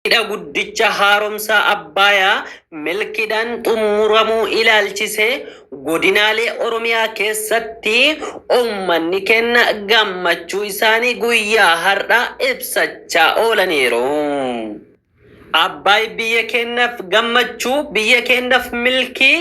Hidha guddicha haaromsaa Abbaayaa milkiidhaan xumuramuu ilaalchisee godinaalee Oromiyaa keessatti uummanni keenna gammachuu isaanii guyyaa har'aa ibsachaa oolaniiru. Abbaay biyya keennaf gammachuu, biyya keennaf milkii,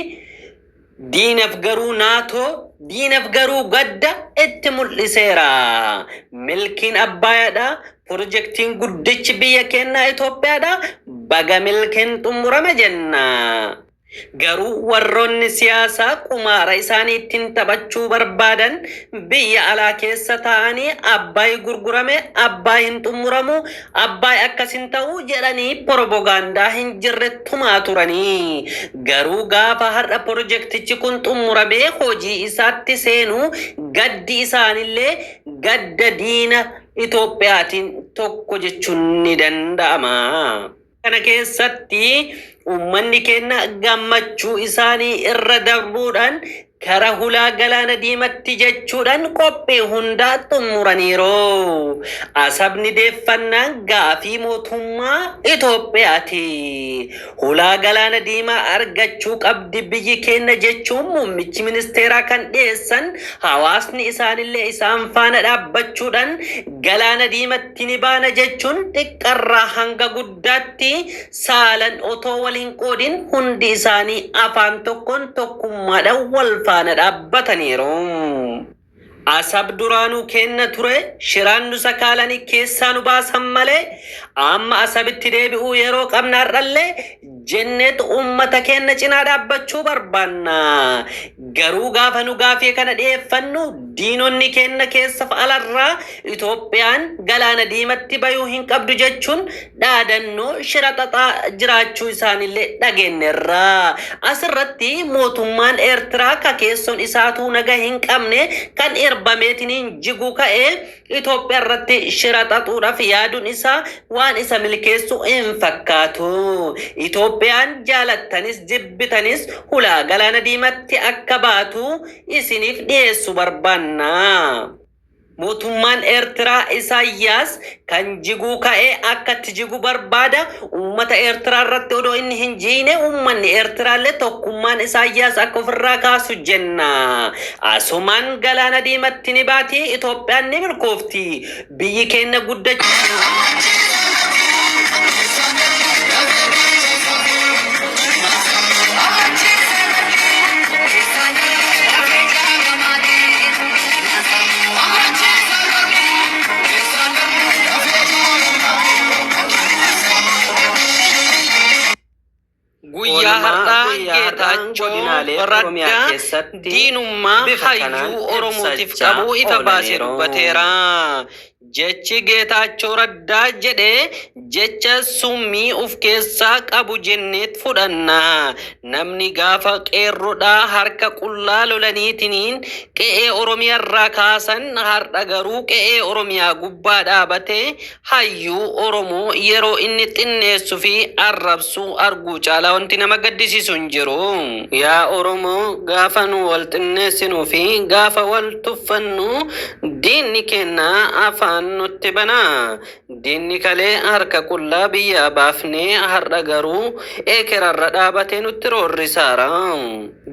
Diinaf garuu Nato diinaf garuu gadda itti mul'iseera. Milkiin Abbaayadha, Pirojektiin guddichi biyya keennaa Itoophiyaadha, baga milkiin xummurame jenna. Garuu warroonni siyaasaa qumaara isaanii ittiin taphachuu barbaadan biyya alaa keessa taa'anii Abbaay gurgurame, Abbaay hin xummuramu, Abbaay akkas hin ta'uu jedhanii porobogaandaa hin jirre tumaa turanii. Garuu gaafa har'a porojektichi kun xummuramee hojii isaatti seenu gaddi isaanillee gadda diina Itoophiyaatiin tokko jechuun ni danda'ama. kana keessatti uummanni keenya gammachuu isaanii irra darbuudhaan kara hulaa galaana diimatti jechuudhaan qophii hundaa xumuraniiru. Asabni deeffannaan gaafii mootummaa Itoophiyaati. Hulaa galaana diimaa argachuu qabdi biyyi keenya jechuun muummichi ministeeraa kan dhiyeessan hawaasni isaanillee isaan faana dhaabbachuudhaan galaana diimatti Kinibaana jechuun xiqqarraa hanga guddaatti saalan otoo wal hin qoodin hundi isaanii afaan tokkoon tokkummaadhaan wal faana dhaabbataniiru. Asab duraanuu keenna ture, shiraan nu sakaalanii keessaa nu baasan malee amma Asabitti deebi'uu yeroo qabna har'allee Jennet uummata keenna cinaa dhaabbachuu barbaanna. Garuu gaafa nu gaafii kana dhiyeeffannu diinonni keenna keessaf alarraa Itoophiyaan galaana diimatti bayuu hin qabdu jechuun dhaadannoo shira xaxaa jiraachuu isaanillee dhageennerra. Asirratti mootummaan Eertiraa ka keessoon isaatuu naga hin qabne kan irbameetiniin jiguu ka'e Itoophiyaa irratti shira xaxuudhaaf yaaduun isaa waan isa milkeessu hin fakkaatu. Itoophiyaan jaalattanis jibbitanis hulaa galaana diimatti akka baatu isiniif dhiyeessu barbaanna. Mootummaan Eertiraa Isaayyaas kan jiguu ka'e akkatti jigu barbaada. Uummata Eertiraa irratti odoo inni hin jiine uummanni Eertiraallee tokkummaan Isaayyaas akka ofirraa kaasu jenna. Asumaan galaana diimatti ni baati, Itoophiyaan ni milkoofti. Biyyi keenna guddachuu. Guyyaa har'aa Geetaachoo Raddaa diinummaa hayyuu Oromootiif qabu ifa baasee dubbateera. Jechi Geetaachoo Raddaa jedhe Jecha summii of keessaa qabu jenneet fudhanna. Namni gaafa qeerrodhaa harka qullaa lolaniitiniin qe'ee Oromiyarraa kaasan har'a garuu qe'ee Oromiyaa gubbaa dhaabatee hayyuu Oromoo yeroo inni xinneessu fi arrabsu arguu caalaa wanti nama gaddisiisu hin jiru. Yaa Oromoo gaafa nu wal xinneessinuu fi gaafa wal tuffannu diinni keenna afaan nutti bana. Diinni kalee harka qullaa biyyaa baafnee har'a garuu eekerarra dhaabatee nutti roorrisaara.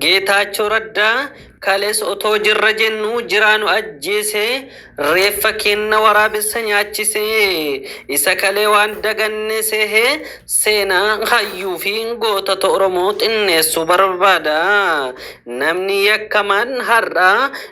Geetaachoo Raddaa kalees otoo jirra jennuu jiraa nu ajjeesee reeffa keenna waraabessa nyaachise. Isa kalee waan daganne seehee seenaa hayyuu fi gootota Oromoo xinneessuu barbaada. Namni yakkamaan har'a